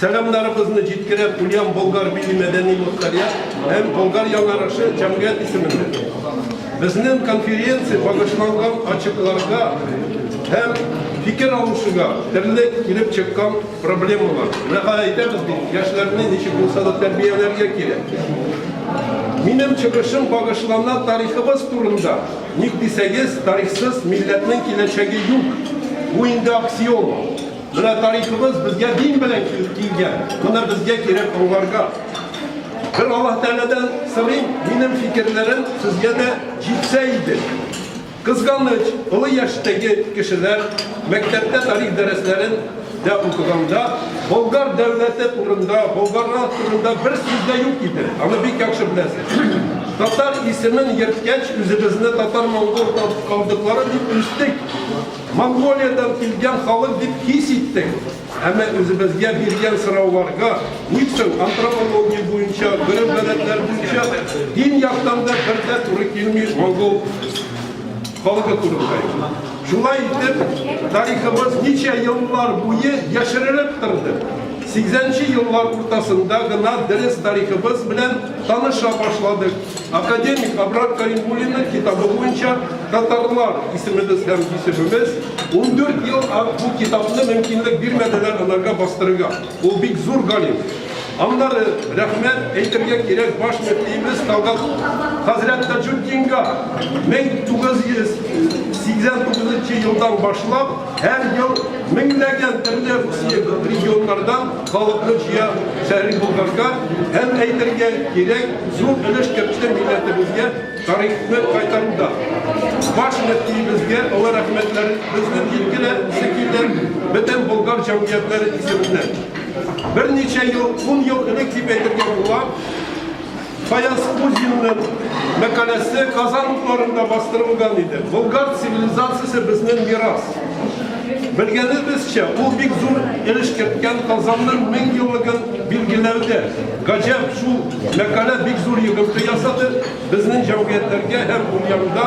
Сәламнарыбызны җиткерә куям Болгар милли мәдәни мохтарият һәм Болгар яңарышы җәмгыять исеменнән. Безнен конференция багышланган ачыкларга һәм фикер алышуга терле килеп чыккан проблемалар. Нәга әйтәбез бит, яшьләрне ничек булса да тәрбияләргә кирәк. Минем чыгышым багышлана тарихыбыз турында. Ник дисәгез, тарихсыз милләтнең киләчәге юк. Бу инде аксиома. Менә тарихыбыз безгә дин белән килгән. Моны безгә кирәк аңларга. Бер Аллаһ Тәгаләдән сорыйм, минем фикерләрем сезгә дә җитсә иде. Кызганыч, олы яшьтәге кешеләр мәктәптә тарих дәресләрен дә укыганда Болгар дәүләте турында, болгарлар турында бер сүз дә юк иде. Аны бик яхшы беләсез. Татар исемен ерткәч, үзебезне татар-монгол калдыклары дип үстек. Монголиядән килгән халык дип хис иттек, әмма үзебезгә биргән сорауларга, ничтың антропология буенча, гореф-гадәтләр буенча дин яктан да бер дә туры килми монгол халыгы турында. Шулай итеп, тарихыбыз ничә еллар буе яшерелеп торды. 80 нче еллар уртасында гына дөрес тарихыбыз белән таныша башладык. Академик Абрат Каримуллинның китабы буенча татарлар исемебез һәм исемебез 14 ел бу китапны мөмкинлек бирмәделәр аларга бастырырга. Ул бик зур галим. Аннары рәхмәт әйтергә кирәк баш мөфтиебез Талгат хәзрәт Таҗутдинга 1989 елдан башлап Һәр ел меңләгән төрле Русия регионнардан халыкны җыя Шәриф Болгарга һәм әйтергә кирәк, зур өлеш керткән милләтебезгә тарихны кайтаруда. Баш мөфтиебезгә олы рәхмәтләребезне җиткерә шикелле бөтен болгар җәмгыятьләре исеменнән. Берничә ел, ун ел элек дип әйтергә була, Фаяз Кузинның мәкаләсе Казан утларында бастырылган иде. Болгар цивилизациясе безнең мирас. Белгәнебезчә, ул бик зур өлеш керткән Казанның мең еллыгын билгеләүдә. Гаҗәп, шул мәкалә бик зур йогынты ясады безнең җәмгыятьләргә һәм дөньяда.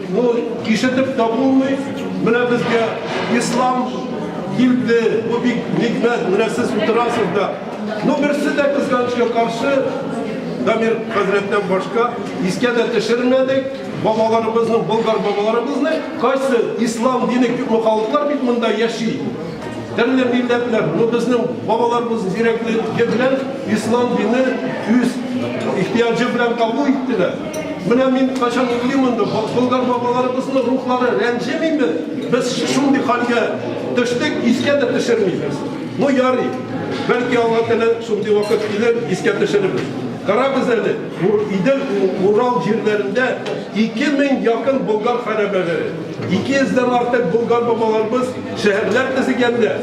Ну, кишетеп тә булмый. Менә безгә ислам килде. Бу бик никмәт. Менә сез утырасыз да. Ну, берсе дә кызганычка каршы Дамир хәзрәттән башка искә дә төшермәдек. Бабаларыбызның, болгар бабаларыбызны кайсы ислам дине күпме халыклар бит монда яши. Төрле милләтләр, ну безнең бабаларыбыз зирәклеге белән ислам дине үз ихтыяҗы белән кабул иттеләр. Менә мин качан уйлыйм инде, Болгар бабаларыбызның рухлары рәнҗемиме? Без шундый хәлгә төштек, искә дә төшермибез. Ну ярый. Бәлки алга теле шундый вакыт килер, искә төшерербез. Карагыз әле, Идел Урал җирләрендә 2000 якын болгар хәрәбәләре, 200 дән артык болгар бабаларыбыз шәһәрләр төзегәндә,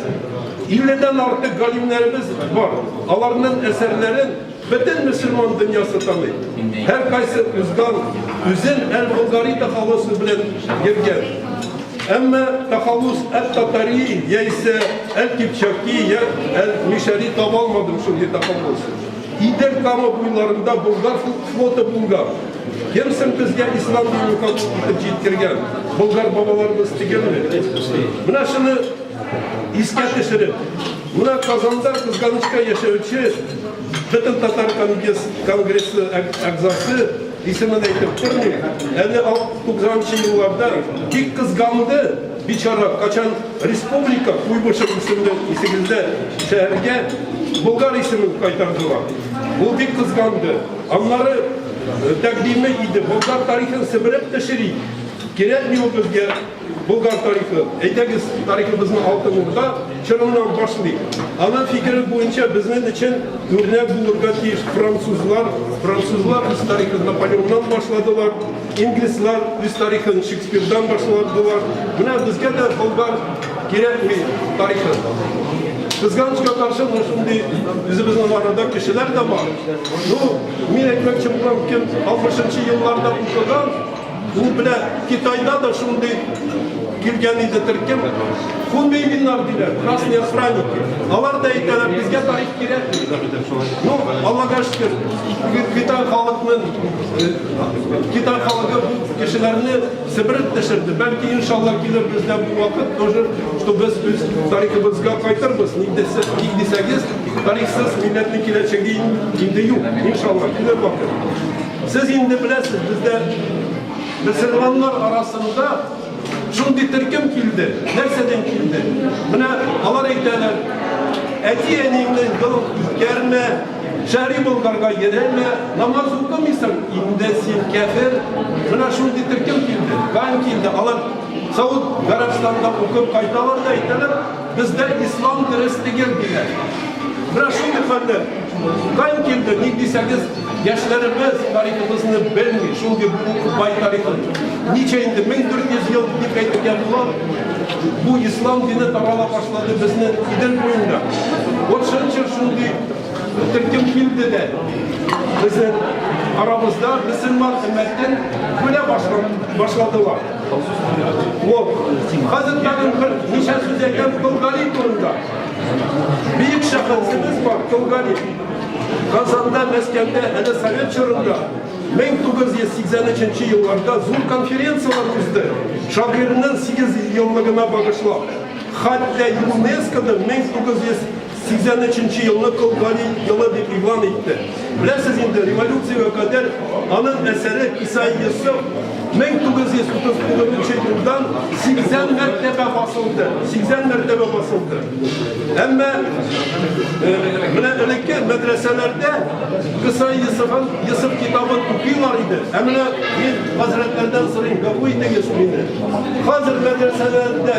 50 дән артык галимнәребез бар. Аларның әсәрләрен Бөтен мөселман дөньясы таный. Һәркайсы узган үзен әл-Болгари тахаллусы белән йөргән. Әмма тахаллус әт-татари яисә әл-кипчаки я әл-мишәри таба алмадым шундый тахаллус. Идел Кама буйларында болгар флоты булган. Кем соң безгә ислам динен кабул итеп җиткергән? Болгар бабаларыбыз түгелме? Менә шуны искә төшереп, Менә Казанда кызганычка яшәүче Бөтен татар конгрессы әгъзасы, исемен әйтеп тормыйм, әле 90 нчы елларда бик кызганды, бичара, качан республика Куйбышев исемле исегездә шәһәргә Болгар исемен кайтардылар. Ул бик кызганды. Аннары тәкъдиме иде, Болгар тарихын себереп төшерик, кирәкми ул безгә. Болгар тарихы. Әйдәгез, тарихыбызны Алтын Урда чорыннан башлыйк. Аның фикере буенча безнең өчен үрнәк булырга тиеш французлар. Французлар үз тарихын Наполеоннан башладылар, инглизлар үз тарихын Шекспирдан башладылар. Менә безгә дә болгар кирәкми тарихы. Кызганычка каршы мына шундый үзебезнең арада кешеләр дә бар. Ну, мин әйтмәкче булам, кем 60 елларда укыган, Бу белән Китайда да шундый килгән иде төркем. Хунбейбиннар диләр, красные охранники. Алар да әйтәләр, безгә тарих кирәк. Ну, Аллага шөкер, Китай халыкның э, Китай халыгы бу кешеләрне сибереп төшерде. Бәлки иншалла килер бездә бу вакыт тоже, что без үз тарихыбызга кайтырбыз. Ник дисәгез, тарихсыз милләтнең киләчәге инде юк. Иншалла килер вакыт. Сез инде беләсез, бездә мөселманнар арасында шундый төркем килде. Нәрсәдән килде? Менә алар әйтәләр, әти-әниеңне гыл үткәрмә, шәри болгарга йөрәмә, намаз укымыйсың, инде син кәфер. Менә шундый төркем килде. Ган килде. Алар Сауд Гарәбстанда укып кайталар да әйтәләр, Бездә ислам дөрес түгел диләр. Менә шундый хәлләр кайдан килде, ник дисәгез, яшьләребез тарихыбызны белми, шундый бай тарихы. Ничә инде 1400 ел дип әйтелгән була. Бу ислам дине тарала башлады безнең Идел буенда. Вот шунча шундый төркем килде дә безнең арабызда мөселман өммәтен бүлә башладылар. Хәзер тагын бер ничә сүз әйтәм Кылгали турында. Бөек шәхесебез бар Кылгали. Казанда, Мәскәүдә, әле совет чорында 1983 елларда зур конференцияләр узды. Шагыйрьнең 8 еллыгына багышлап. Хәтта ЮНЕСКОда 1900 83 елны кол гали елы дип игълан итте. Беләсез инде, революциягә кадәр аның әсәре Исай Йосыф 1939 елдан 80 мәртәбә басылды. 80 мәртәбә басылды. Әмма менә элекке мәдрәсәләрдә Кыса Йосыфын, Йосыф китабын укыйлар иде. Ә менә мин хәзрәтләрдән сорыйм, гафу итегез мине. Хәзер мәдрәсәләрдә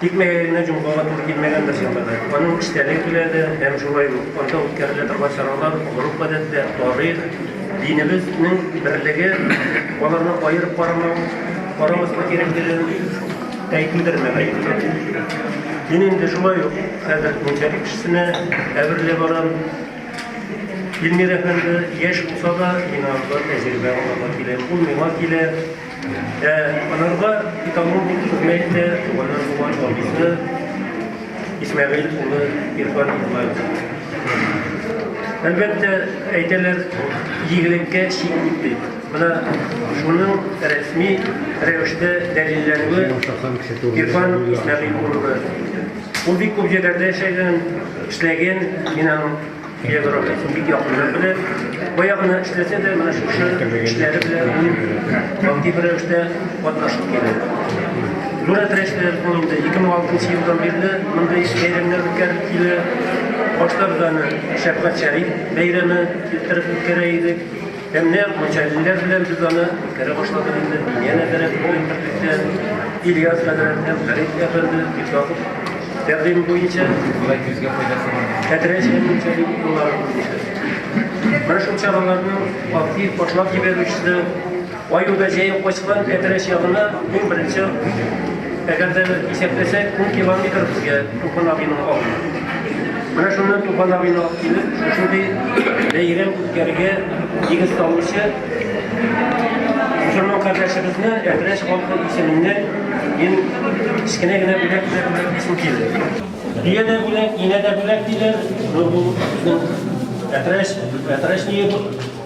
Тик мәгәренә җомгага туры килмәгән бер җәмәгать. Аның эчтәлеге килә дә, һәм шулай ук анда үткәрелә торган чаралар, гореф-гадәтләр, тарих, динебезнең берлеге, аларны аерып карамау, карамаска кирәклеген әйтүдер, мөгаен. Мин инде шулай ук хәзер мунча кешесенә әверелә барам. Илмир әфәнде яшь булса да, мин анда тәҗрибә алырга киләм. Ул миңа килә. Ә анарга экологик хезмәт тә туганнар булган абыйсы Исмәгыйль улы Ирфан Әлбәттә, әйтәләр, игелеккә чик юк дип. Менә шуның рәсми рәвештә дәлилләнүе Ирфан Исмәгыйль улы. Ул бик күп җирләрдә эшләгән, эшләгән, мин аның Географиясен бик якыннан белә. Баягына эшләсә дә, менә шушы эшләре белән ул актив рәвештә катнашып килә. Нура Трәшләр ул инде 2006 елдан бирле мондый бәйрәмнәр үткәреп килә. Баштарда аны Шәфкать Шәриф бәйрәме китереп үткәрә идек. Һәм нәкъ Мочалиннар белән без аны үткәрә башладык инде. Янә бераз уен берлектә Ильяс хәзрәт һәм Фәрит әфәнде Исаков тәкъдим буенча Болай күзгә файдасы бар. Хәтрәч һәм Мочалин куллары буенча. Менә шул чараларның актив башлап җибәрүчесе Аюда җәеп качкан Хәтрәч ягына иң беренче әгәр дә исәпләсәк, ун километр безгә Туфан абыйның авылы. Менә шуннан Туфан абыйны алып килеп, шушындый бәйрәм үткәрергә нигез салучы мусульман кардәшебезне Әтрәч халкы исеменнән мин кечкенә генә бүләк белән бүләк итәсем килде. Дөя дә бүләк, инә дә бүләк диләр. Бу безнең Әтрәч, Әтрәч ние бу?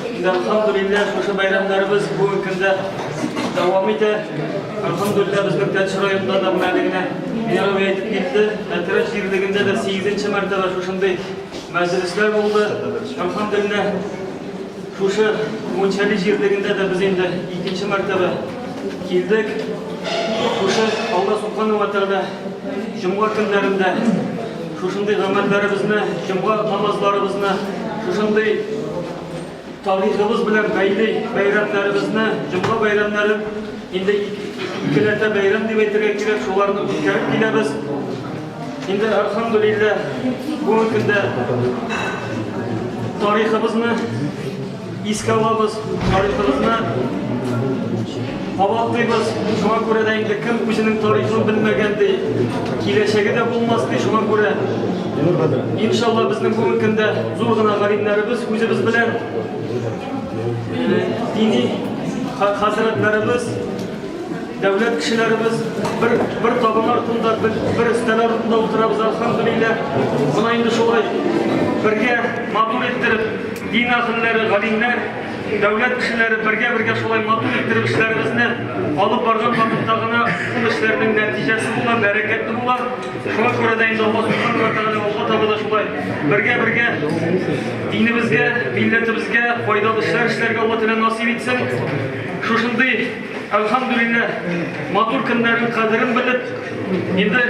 Әлхамдулилләһ, шушы бәйрәмнәребез бүгенге көндә дәвам итә. Әлхамдулилләһ, безнең Тәтеш районында да менә генә Мирау әйтеп китте. Әтрәч җирлегендә дә 8 мәртәбә шушындый мәҗлесләр булды. Әлхамдулилләһ, шушы Мунчали җирлегендә дә без инде икенче мәртәбә килдек. Шушы Алла Субхану ва Тәгалә җомга көннәрендә Шушындый гамәлләребезне, җомга намазларыбызны, шушындый тарихыбыз белән бәйле бәйрәмнәребезне, җомга бәйрәмнәрен инде икеләтә бәйрәм дип әйтергә кирәк, шуларны үткәреп киләбез. Инде альхамдулилләһ бүгенге көндә тарихыбызны Искә алабыз тарихыбызны, кабатлыйбыз. Шуңа күрә дә инде кем үзенең тарихын белмәгән ди, киләчәге дә булмас ди. Шуңа күрә иншалла безнең бүгенге көндә зур гына галимнәребез үзебез белән э, дини хәзрәтләребез, дәүләт кешеләребез бер бер табын артында, бер, бер өстәл артында утырабыз, алхамдулилләһ. Мына инде шулай бергә матур иттереп Дин әһелләре, галимнәр, дәүләт кешеләре бергә-бергә шулай матур иттереп эшләребезне алып барган вакытта гына ул эшләрнең нәтиҗәсе була, бәрәкәте була. Шуңа күрә дә инде Алла субхану ва тагала алга таба да шулай бергә-бергә динебезгә, милләтебезгә файдалы эшләр эшләргә Алла теләсә насыйп итсен. Шушындый Әлхәмдүлилләһ, матур көннәрнең кадерен белеп, инде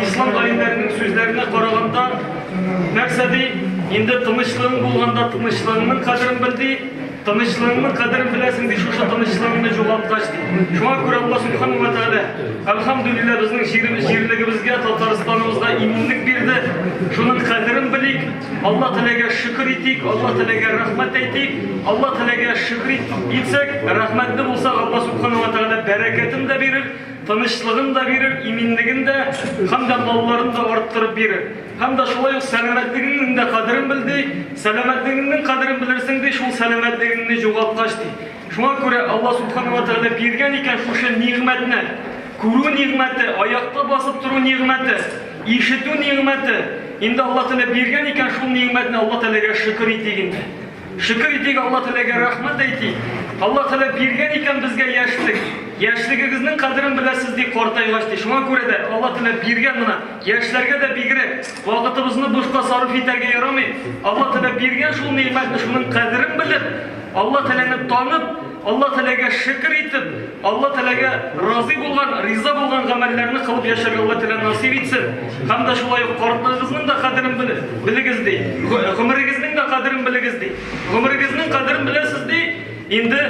ислам галимнәренең сүзләренә караганда, нәрсә ди, инде тынычлыгың булганда тынычлыгыңның кадерен бел ди, тынычлыгыңның кадерен беләсең ди, шушы тынычлыгыңны югалткач ди. Шуңа күрә Алла субхану ва тәгалә, әлхәмдүлилләһ, безнең җирлегебезгә, Татарстаныбызга иминлек бирде. Шуның кадерен белик. Алла теләгә шөкер итик, Алла теләгә рәхмәт әйтик, Алла теләгә шөкер итеп килсәк, рәхмәтле булсак, Алла субхана ва тәгалә бәрәкәтен дә бирер, тынычлыгын да бирер, иминлеген дә, һәм дә малларын да арттырып бирер. Һәм дә шулай ук сәламәтлегеңнең дә кадерен бел ди, сәламәтлегеңнең кадерен белерсең ди, шул сәламәтлегеңне югалткач ди. Шуңа күрә Алла субхана ва тәгалә биргән икән шушы нигъмәтне, күрү нигъмәте, аякта басып тору нигъмәте, Ишетү нигъмәте. Инде Алла Тәгалә биргән икән шул нигъмәтне Алла Тәгаләгә шөкер итик инде. Шөкер итик Алла Тәгаләгә рәхмәт әйтик. Алла Тәгалә биргән икән безгә яшьлек. Яшьлегегезнең кадерен беләсез ди картайгач ди. Шуңа күрә дә Алла Тәгалә биргән менә яшьләргә дә бигрәк вакытыбызны бушка сарыф итәргә ярамый. Алла Тәгалә биргән шул нигъмәтне шуның кадерен белеп, Алла Тәгаләне танып, Алла Тәләгә шөкер итеп, Алла Тәләгә разый булган, риза булган гамәлләрне кылып яшәргә Алла Тәлә насыйп итсен. Һәм дә шулай ук картлыгыгызның да кадерен белегез ди. Гомерегезнең дә кадерен белегез ди. Гомерегезнең кадерен беләсез ди. Инде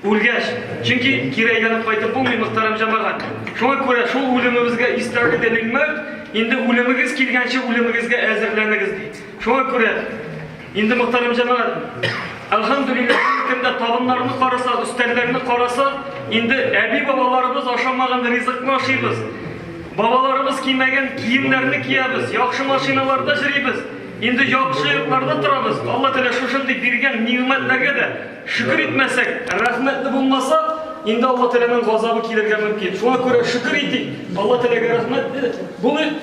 үлгәч, чөнки кире әйләнеп кайтып булмый, мөхтәрәм җәмәгать. Шуңа күрә шул үлемебезгә истәгъи дәлил мәүт, инде үлемегез килгәнче үлемегезгә әзерләнегез ди. Шуңа күрә Инде Мөхтәрәм җәмәгать, әлхәмдүлилләһ, кемдә табыннарны караса, өстәлләрне караса, инде әби-бабаларыбыз ашамаган ризыкны ашыйбыз. Бабаларыбыз кимәгән киемнәрне киябез, яхшы машиналарда җөрибез. Инде яхшы йортларда торабыз. Алла Тәгалә шушындый биргән нигъмәтләргә дә шөкер итмәсәк, рәхмәтле булмаса, инде Алла Тәгаләнең газабы килергә мөмкин. Шуңа күрә шөкер итик, Алла Тәгаләгә рәхмәтле булыйк.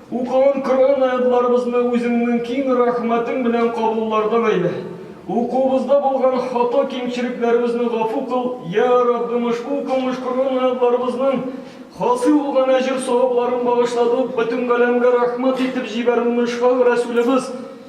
Укуын Коръән аятьларыбызны үзеңнең киң рәхмәтең белән кабуллардан әйлә. Укуыбызда булган хата кимчелекләребезне гафу кыл, йә Раббым ошбу укылмыш Коръән аятьларыбызның хасил булган әҗер-савапларын багышладып, бөтен галәмгә рәхмәт итеп җибәрүен ошкаг Рәсүлебез,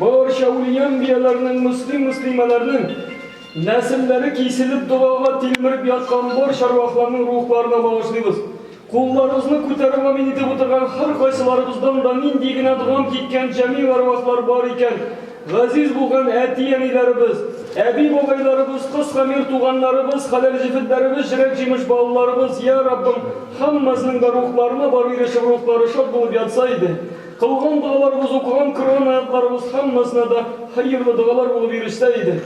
Барча ульямбияләрнең, мөслим-мөслимәләрнең нәселләре киселеп догага тилмереп яткан бар чарвахларның рухларына багышлыйбыз. Кулларыбызны күтәреп амин итеп утырган һәркайсыларыбыздан да нинди генә догам киткән җәмил әрвахлар бар икән, газиз булган әти-әниләребез, әби-бабайларыбыз, кыскамир туганнарыбыз, хәләл җефетләребез, җрәк-җимеш балаларыбыз, йә, Раббым, һәммәснең дә рухларына барып ирешеп, рухлары шат булып ятса иде. Калган догаларыбыз укыган Коръән аятларыбыз һәммәсенә дә хәерле догалар булып ирешсә иде.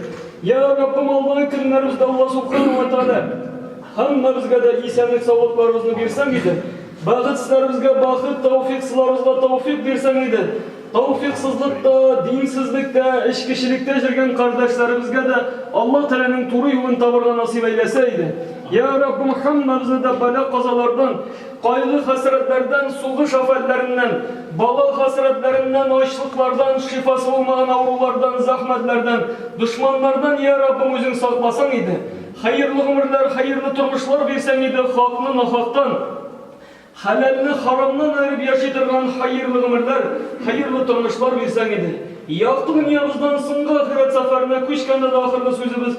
Йә, Раббым, алдагы көннәребездә Алла субханәһү вә тәгалә һәммәбезгә дә исәнлек-саулыкларыбызны бирсәң иде, бәхетсезләребезгә бәхет, тәүфикъсызларыбызга тәүфикъ бирсәң иде, тәүфикъсызлыкта, динсезлектә, эчкечелектә җөргән кардәшләребезгә дә Алла Тәгаләнең туры юлын табырга насыйп әйләсә иде. Йә, Раббым, һәммәбезне дә бәла-казалардан, Кайгы-хәсрәтләрдән, сугыш афәтләреннән, бала хәсрәтләреннән, ачлыклардан, шифасы булмаган авырулардан, зәхмәтләрдән, дошманнардан, йә Раббым, Үзең сакласаң иде, хәерле гомерләр, хәерле тормышлар бирсәң иде, хакны нахактан, хәләлне харамнан аерып яши торган хәерле гомерләр, хәерле тормышлар бирсәң иде. Якты дөньябыздан соңгы ахирәт сәфәренә күчкәндә дә ахырлы сүзебез,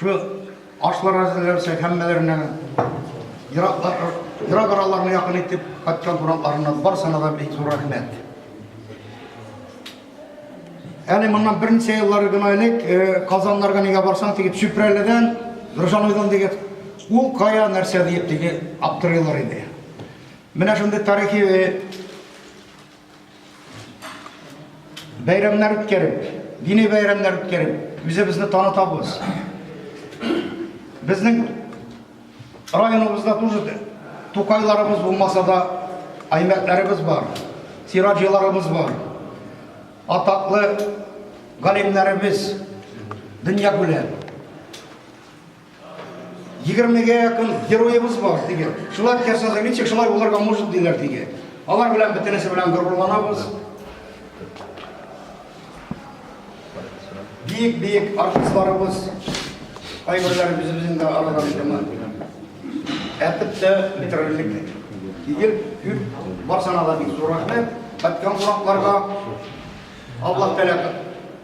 Шул ашлар әзерләнсә, һәммәләренә ерак араларны якын итеп кайткан кунакларына барсына да бик зур рәхмәт. Әле моннан берничә еллар гына элек э, Казаннарга нигә барсаң дип Чүпрәледән Нуржан уйдан дигән ул кая нәрсә диеп диге аптырыйлар иде. Менә шундый тарихи э, Бәйрәмнәр үткәреп, дини бәйрәмнәр үткәреп, үзебезне танытабыз. Безнең районыбызда тоже тукайларыбыз булмаса да аймәтләребез бар, сираҗиларыбыз бар. Атаклы галимнәребез дөнья күләм. Егермегә якын героебыз бар, диге. Шулай ясады, ничек шулай булырга может, диләр, диге. Алар белән бөтенесе белән горурланабыз. Бик-бик артистларыбыз кайберләре үзебезнең дә арадан икәнме. Әтеп тә бетерерлек. Егер күп барсана да бик зур рәхмәт. Каткан кунакларга Аллаһ тәләп